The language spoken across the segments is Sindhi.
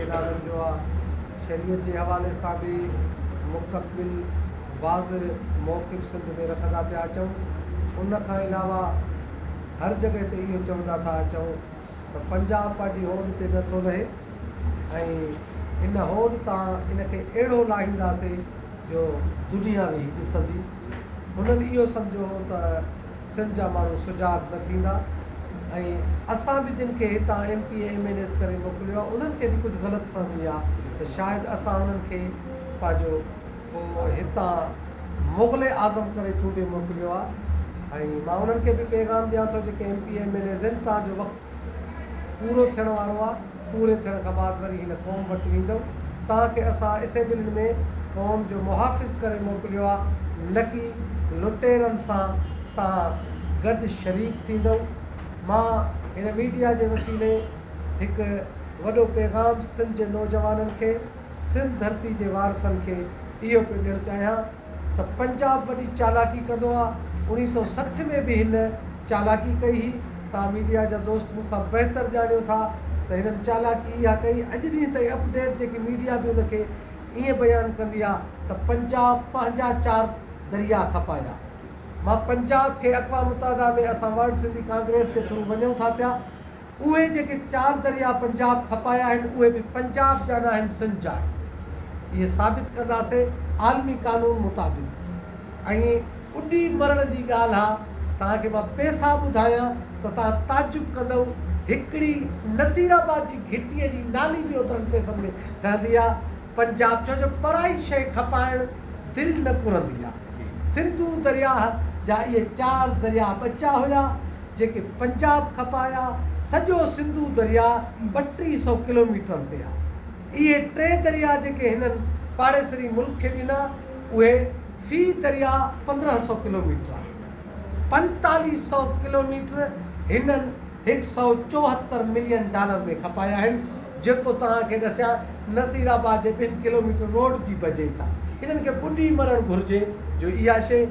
اعلانن جو آ. شريعت جي حوالي سان به مستقبل واضع موقف سنڌ ۾ رکندا پيا اچون. ان کان علاوه هر جڳهه تي اهو چوندا ٿا اچون ته پنجاب پنهنجي هوڏ تي نه ٿو لهي ۽ ان هوڏ تان ان کي اهڙو لاهينداسين جو دنيا ويهي ڏسندي. هنن اهو سمجهيو هو ته. سنڌ جا ماڻهو سجاڳ نه ٿيندا ۽ اسان به جن کي هتان M P A M N As ڪري موڪليو آهي انهن کي به ڪجهه غلط فهمي آهي ته شايد اسان انهن کي پنهنجو هتان مغل اعظم ڪري چونڊي موڪليو آهي ۽ مان انهن کي به پيغام ڏيان ٿو جيڪي M P A M N As آهن تان جو وقت پورو ٿيڻ وارو آ پوري ٿيڻ کان بعد وري هن قوم وٽ ويندؤ توهان کي اسان اسيمبلين ۾ قوم جو محافظ ڪري موڪليو آ نڪي لٽيرن سان توهان گڏ شريڪ ٿيندؤ مان هن ميڊيا جي وسيلي هڪ وڏو پيغام سنڌ جي نوجوانن کي سنڌ ڌرتي جي وارثن کي اهو پيو ڏيڻ چاهيان ته پنجاب وڏي چالاڪي ڪندو آ، اوڻيهه سؤ سٺ ۾ به هن چالاڪي ڪئي هئي، توهان ميڊيا جا دوست مون کان بهتر ڄاڻيو ٿا ته هنن چالاڪي اها ڪئي، اڄ ڏينهن تائين اپ ڊيٽ جيڪي ميڊيا به ان کي ائين بيان ڪندي آ ته پنجاب پنهنجا چار درياء کپايا، مان پنجاب کي اقوام متحده ۾ اسان ورلڊ سنڌي ڪانگريس جي ٿرو وڃون ٿا پيا، اهي جيڪي چار درياء پنجاب کپايا آهن اهي به پنجاب جا ناهن سنڌ جا آهن اهي ثابت ڪنداسي عالمي قانون مطابق ۽ اڏي مرڻ جي ڳالهه آ توهان کي مان پيسا ٻڌايان ته توهان تعجب ڪندئو هڪڙي نصير آباد جي گهٽي جي نالي به اوترن پيسن ۾ ٺهندي آ پنجاب ڇو جو پرائي شئي کپائڻ دل نه ڪرندي آ سنڌو درياهه جا اهي چار درياء ٻچا هيا. جيڪي پنجاب کپايا سڄو سنڌو درياء ٻه ٽي سئو ڪلوميٽرن تي آ. اهي ٽي درياء جيڪي هنن پاڙيسري ملڪ کي ڏنا اهي في درياء پندرهن سئو ڪلوميٽر آهن. پنتاليهه سئو ڪلوميٽر هنن هڪ سئو چوهتر ملين ڊالر ۾ کپايا آهن جيڪو توهان کي ڏسيان نصير آباد جي ٻن ڪلوميٽر روڊ جي بجي ٿا. هنن کي ٻڏي مرڻ گهرجي جو اها شيء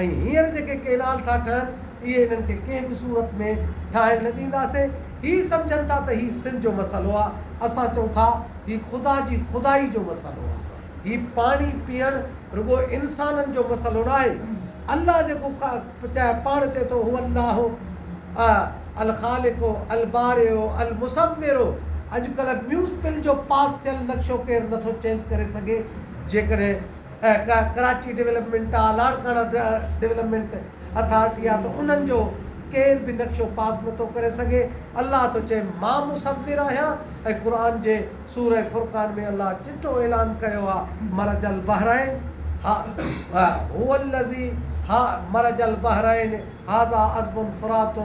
۽ هينئر جيڪي ڪينال ٿا ٺهن، اهي هنن کي ڪنهن به صورت ۾ ٺاهڻ نه ڏينداسين. هي سمجهن ٿا ته هي سنڌ جو مسئلو آهي. اسان چئون ٿا هي خدا جي خدائي جو مسئلو آهي. هي پاڻي پيئڻ رڳو انسانن جو مسئلو ناهي. الله جيڪو پاڻ چئي ٿو هو الله الخالق البارئ المصور اڄڪلهه ميونسپل جو پاس ٿيل نقشو ڪير نٿو چينج ڪري سگهي جيڪڏهن ڪراچي ڊولپمينٽ آ، لاڙڪاڻا ڊولپمينٽ اٿارٽي آ ته انهن جو ڪير به نقشو پاس نه ٿو ڪري سگهي. الله ٿو چئي مان مصور آهيان ۽ قرآن جي سورة فرقان ۾ الله چٽو اعلان ڪيو آ مرج البحرين هئ الذي هئ مرج البحرين. هذا عذب فرات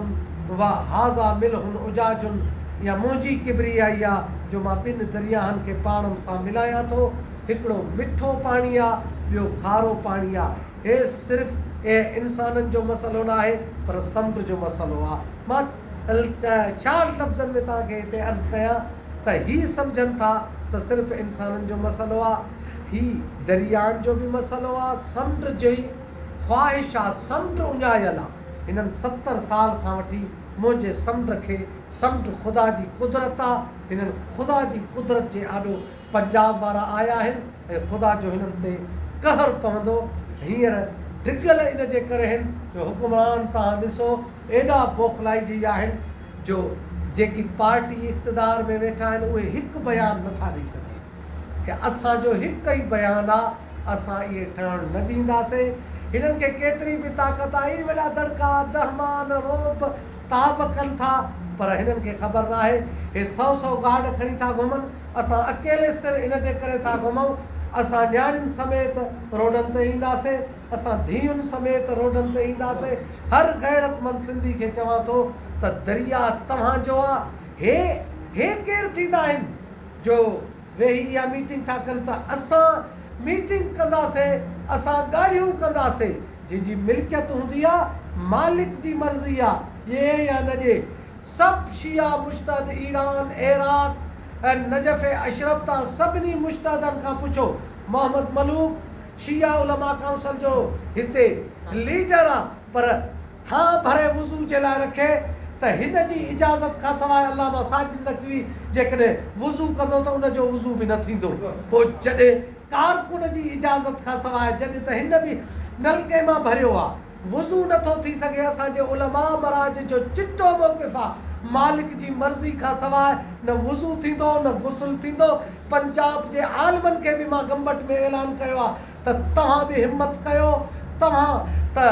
و هذا ملح اجاج اها منهنجي ڪبريائي آ جو مان ٻن درياهن کي پاڻ م سان ملايان ٿو، هڪڙو مٺو پاڻي آ ٻيو کارو پاڻي آ، هي صرف اهي انسانن جو مسئلو ناهي پر سمنڊ جو مسئلو آ. مان شارٽ لفظن ۾ توهان کي هتي عرض ڪيان ته هي سمجهن ٿا ته صرف انسانن جو مسئلو آ، هي درياهن جو به مسئلو آ، سمنڊ جي. خواهشا سمنڊ اڃايل آ. هنن ستر سال کان وٺي منهنجي سمنڊ کي سمنڊ خدا جي قدرت آ. هنن خدا جي قدرت جي آڏو پنجاب وارا آيا آهن ۽ خدا جو هنن تي قهر پوندو. هينئر ڊگهل ان جي ڪري هن جو حڪمران توهان ڏسو ايڏا بوخلائجي آهن جو جيڪي پارٽي اقتدار ۾ ويٺا آهن اهي هڪ بيان نٿا ڏئي سگهن. هي اسان جو هڪ ئي بيان آ اسان اهي ٺهڻ نه ڏينداسين هنن کي ڪيتري به طاقت آ هي وڏا دڙڪا دهمان رعب تعب ڪن ٿا پر هنن کي خبر ناهي هي سئو سئو گارڊ کڻي ٿا گهمن اسان اڪيلي سر ان جي ڪري ٿا گهمئون اسان نياڻين سميت روڊن تي اينداسين اسان ڌيئن سميت روڊن تي اينداسين هر غيرت مند سنڌي کي چوان ٿو ته درياء توهان جو آ هي هي ڪير ٿيندا آهن. جو ويهي اها ميٽنگ ٿا ڪن ته اسان ميٽنگ ڪنداسين، اسان ڳالهيون ڪنداسين، جنهن جي ملڪيت هوندي آ، مالڪ جي مرضي آ، ڏئي يا نه ڏئي. سڀ شيعا مجتهد ايران، عراق ۽ نجف اشرف تان سڀني مجتهدن کان پڇو. محمد ملوڪ شيعا علماء ڪائونسل جو هتي ليڊر آ پر. ٿانء ڀري وضو جي لاء رکي ته هن جي اجازت کان سواء علامه ساجد نقوي جيڪڏهن وضو ڪندو ته ان جو وضو به نه ٿيندو پوء جڏهن ڪارڪن جي اجازت کان سواء جڏهن ته هن به نلڪي مان ڀريو آ وضو نه ٿو ٿي سگهي اسان جي علماء مراجع جو چٽو موقف آ مالڪ جي مرضي کان سواء نه وضو ٿيندو نه غسل ٿيندو پنجاب جي عالمن کي به مان گمبٽ ۾ اعلان ڪيو آ ته توهان به همت ڪيو توهان ته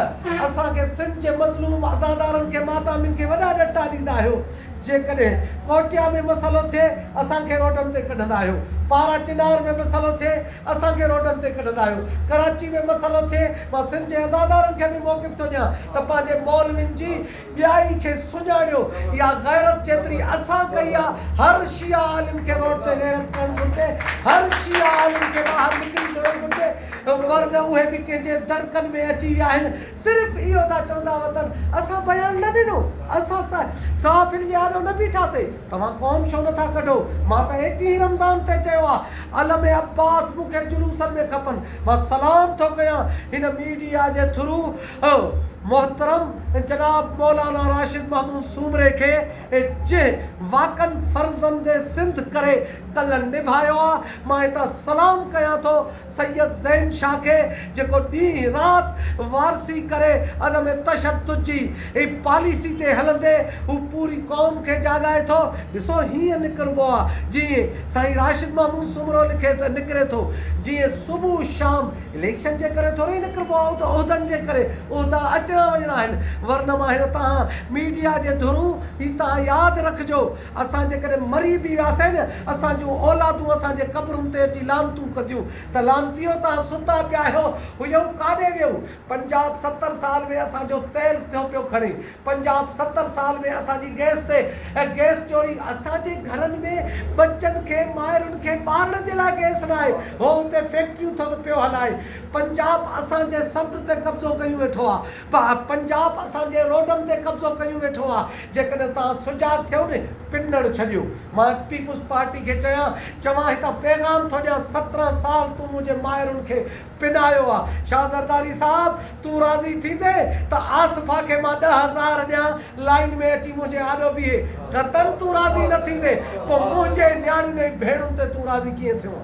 اسان کي سنڌ جي مظلوم عزادارن کي ماتامين کي وڏا ڏٽا ڏيندا آهيو جيڪڏهن ڪوٽيا ۾ مسئلو ٿئي اسان کي روڊن تي ڪڍندا آهيو پارا چنار ۾ مسئلو ٿئي اسان کي روڊن تي ڪڍندا آهيو ڪراچي ۾ مسئلو ٿئي مان سنڌ جي عزادارن کي به موقف ٿو ڏيان ته پنهنجي مولوين جي ٻيائي کي سڃاڻيو اها غيرت جيتري اسان ڪئي آ هر شيعه عالم کي روڊ تي غيرت ڪرڻ گهرجي هر شيعه عالم کي ٻاهر نڪري جڙڻ گهرجي ورنه اهي به ڪنهن جي دڙڪن ۾ اچي ويا آهن صرف اهو ٿا چوندا وتن اسان بيان نه ڏنو اسان صحافين جي آڏو نه بيٺاسي توهان قوم ڇو نه ٿا ڪڍو مان ته ايڪيهين رمضان تي چيو آ علم عباس مون کي جلوسن ۾ کپن مان سلام ٿو ڪيان هن ميڊيا جي ٿرو هو محترم جناب مولانا راشد محمود سومري کي جنهن واڪن فرزند سنڌ ڪري ڪل نڀايو آ مان هتان سلام ڪيان ٿو سيد زين شاھ کي جيڪو ڏينهن رات وارثي ڪري عدم تشدد جي پاليسي تي هلندي هو پوري قوم کي جاڳائي ٿو ڏسو هيئن نڪربو آ جيئن سائين راشد محمود سومرو لکي ته نڪري ٿو جيئن صبح شام اليڪشن جي ڪري ٿوري نڪربو آهو ته عهدن جي ڪري، عهدا اچڻا وڃڻا آهن، ورنه مان هينئر تهان ميڊيا جي ڌرون هي تهان ياد رکجو اسان جيڪڏهن مري به وياسين نه اسان جون اولادون اسان جي قبرن تي اچي لعنتون ڪنديون ته لعنتيو تهان ستا پيا هيو هيئو ڪاڏي ويئو پنجاب ستر سال ۾ اسان جو تيل ٿيو پيو کڻي پنجاب ستر سال ۾ اسان جي گئس تي گئس چوري. اسان جي گهرن ۾ ٻچن کي مائرن کي ٻارڻ جي لاء گئس نه آهي هو اتي فيڪٽريون ٿو ته پيو هلائي. پنجاب اسان جي سمنڊ تي قبضو ڪيون ويٺو آ. پنجاب اسان جي روڊن تي قبضو ڪيون ويٺو آ. جيڪڏهن توهان سجاڳ ٿيو نه پنڻ ڇڏيو. مان پيپلز پارٽي کي چيان چوان هتان پيغام ٿو ڏيان سترهن سال تون منهنجي مائرن کي پنايو آ. شاھ زرداري صاحب تون راضي ٿيندين ته آصفه کي مان ڏھ ھزار ڏيان لائين ۾ اچي منھنجي آڏو بيھي. قطعن تون راضي نه ٿيندين پوء منھنجي نياڻين ۽ ڀيڻن تي تون راضي ڪيئن ٿيو آ.